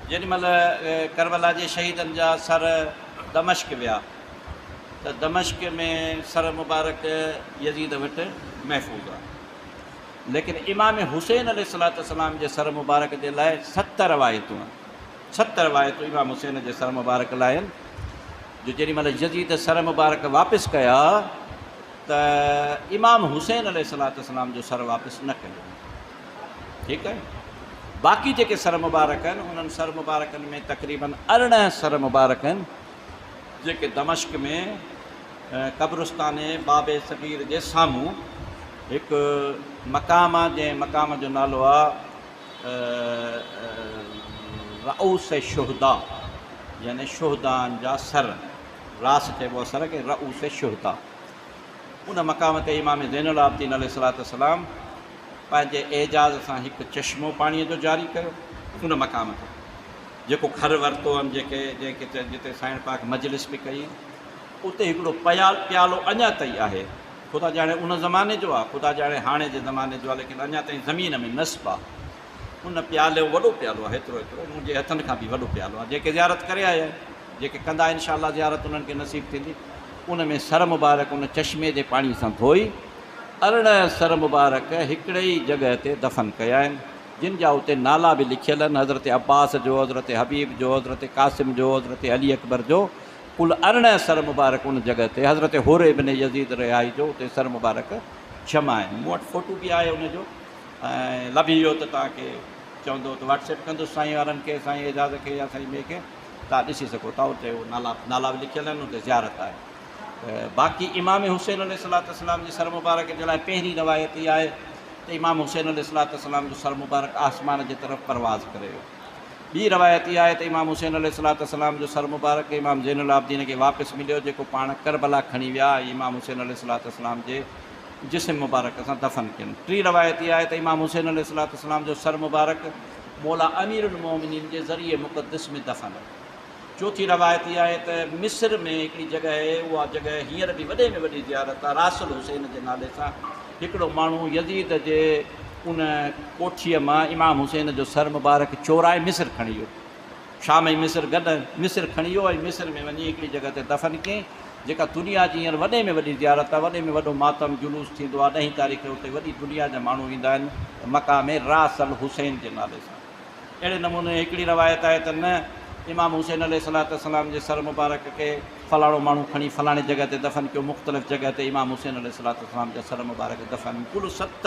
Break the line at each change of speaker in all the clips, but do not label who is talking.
جيڏي مھل ڪربلا جي شھيدن جا سر دمشق ويا ته دمشق ۾ سر مبارڪ يزيد وٽ محفوظ ھئا ليڪن امام حسين عليه السلام جي سر مبارڪ جي لاء ست روايتون آھن ست روايتون امام حسين جي سر مبارڪ لاء آھن جو جيڏي مھل يزيد سر مبارڪ واپس ڪيا ته امام حسين عليه السلام جو سر واپس نه ڪيو ويو ٺيڪ آهي باقي جيڪي سر مبارڪ آهن انهن سر مبارڪن ۾ تقريباً ارڙهن سر مبارڪ آهن جيڪي دمشق ۾ قبرستان باب صغير جي سامهون هڪ مقام آهي جنهن مقام جو نالو آهي رؤس شهدا يعني شهدان جا سر راس چئبو آهي سر کي رؤس شهدا ان مقام تي امام زين العابدين عليه الصلاة والسلام پنهنجي اعجاز سان هڪ چشمو پاڻيء جو جاري ڪيو ان مقام تي جيڪو گهر ورتو هئم جيڪي جنهن کي جتي سائڻ پاڪ مجلس به ڪئي اتي هڪڙو پيال پيالو اڃا تئي آهي خدا ڄاڻي ان زماني جو آ خدا ڄاڻي هاڻي جي زماني جو آ ليڪن اڃا تئي زمين ۾ نصب آ. ان پيالو وڏو پيالو آهي ايترو ايترو منهنجي هٿن کان به وڏو پيالو آهي جيڪي زيارت ڪري آيا آهن جيڪي ڪندا ان شاء الله زيارت انهن کي نصيب ٿيندي ان ۾ سر مبارڪ ان چشمي جي پاڻي سان ڌوئي ارڙهن سر مبارڪ هڪڙي ئي جڳهه تي دفن ڪيا آهن جن جا اتي نالا به لکيل آهن حضرت عباس جو حضرت حبيب جو حضرت قاسم جو حضرت علي اڪبر جو ڪل ارڙهن سر مبارڪ ان جڳهه تي حضرت حر ابن يزيد رهائي جو اتي سر مبارڪ جمع آهن مون وٽ فوٽو به آهي ان جو ۽ لڀي ويو ته توهان کي چوندو ته واٽس ايپ ڪندس سائين وارن کي سائين اعجاز کي يا سائين ٻئي کي توهان ڏسي سگهو ٿا اتي هو نالا نالا به لکيل آهن اتي زيارت آهي ته باقي امام حسين عليه الصلاة والسلام جي سر مبارڪ جي لاء پهرين روايت اها آهي ته امام حسين عليه الصلاة والسلام جو سر مبارڪ آسمان جي طرف پرواز ڪري ويو ٻي روايت اها آهي ته امام حسين عليه الصلاة والسلام جو سر مبارڪ امام زين العابدين کي واپس مليو جيڪو پاڻ ڪربلا کڻي ويا ۽ امام حسين عليه الصلاة والسلام جي جسم مبارڪ سان دفن ڪين. ٽين روايت اها آهي ته امام حسين عليه الصلوة والسلام جو سر مبارڪ مولا امير المومنين جي ضريع مقدس ۾ دفن آهي. چوٿين روايت اها آهي ته مصر ۾ هڪڙي جڳهه آهي، اها جڳهه هينئر به وڏي ۾ وڏي زيارت آهي، راس الحسين جي نالي سان هڪڙو ماڻهو يزيد جي ان ڪوٺيء مان امام حسين جو سر مبارڪ چورائي مصر کڻي ويو. شام ۽ مصر گڏ مصر کڻي ويو ۽ مصر ۾ وڃي هڪڙي جڳهه تي دفن ڪيئين جيڪا دنيا جي هينئر وڏي ۾ وڏي زيارت آهي وڏي ۾ وڏو ماتم جلوس ٿيندو آهي ڏهين تاريخ کي اتي وڏي دنيا جا ماڻهو ايندا آهن ته مڪا ۾ راس الحسين جي نالي سان اهڙي نموني هڪڙي روايت آهي ته نه امام حسين عليه الصلوة والسلام جي سر مبارڪ کي فلاڻو ماڻهو کڻي فلاڻي جڳهه تي دفن ڪيو مختلف جڳهه تي امام حسين عليه الصلوة والسلام جا سر مبارڪ دفن ڪل ست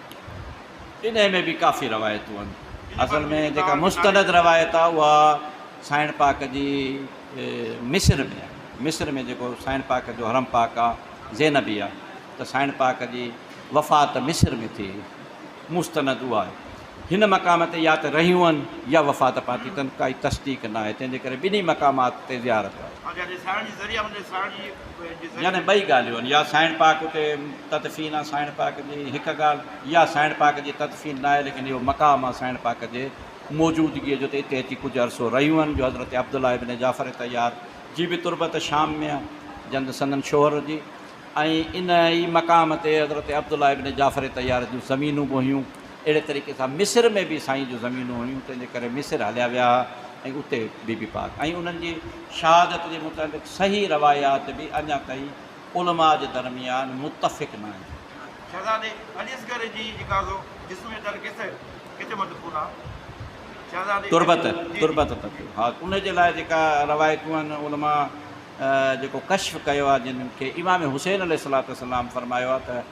انهيء ۾ به ڪافي روايتون آهن. اصل ۾ جيڪا مستند روايت آهي اها سائڻ پاڪ جي مصر ۾ آهي. مصر ۾ جيڪو سائڻ پاڪ جو حرم پاڪ آهي زينبي آهي ته سائڻ پاڪ جي وفات مصر ۾ ٿي هئي. مستند اها آهي. هن مقام تي يا ته رهيون آهن يا وفات پاتي اٿن ڪائي تصديق ناهي تنهن جي ڪري ٻنهي مقامات تي زيارت آهي. يعني ٻئي ڳالهيون يا سائڻ پاڪ اتي تدفين آ سائڻ پاڪ جي هڪ ڳالهه يا سائڻ پاڪ جي تدفين ناهي ليڪن اهو مقام آ سائڻ پاڪ جي موجودگي جو ته اتي اچي ڪجهه عرصو رهيون آهن جو حضرت عبدالله ابن جعفر طيار جي به تربت شام ۾ آ جند سندن شوهر جي ۽ ان ئي مقام تي حضرت عبدالله ابن جعفر طيار جون زمينون به هيون اهڙي طريقي سان مصر ۾ به سائين جون زمينون هيون تنهن جي ڪري مصر هليا ويا ها ۽ اتي بي بي پاڪ ۽ انهن جي شهادت جي متعلق صحيح روايات به اڃا تائين علماء جي درميان متفق ناهن. شهزادي علي اصغر جي جيڪا سو جسم جي تل ڪيس ڪٿي مدفون آ؟ شهزادي تربت تربت تت ها ان جي لاء جيڪا روايتون آهن علماء جيڪو ڪشف ڪيو آ جن کي امام حسين عليه الصلوة والسلام فرمايو آ ته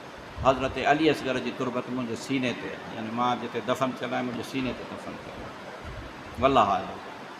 حضرت علي اصغر جي تربت منهنجي سيني تي يعني مان جتي دفن ٿيل آهيان منهنجي سيني تي دفن ٿيل آهي والله اعلم.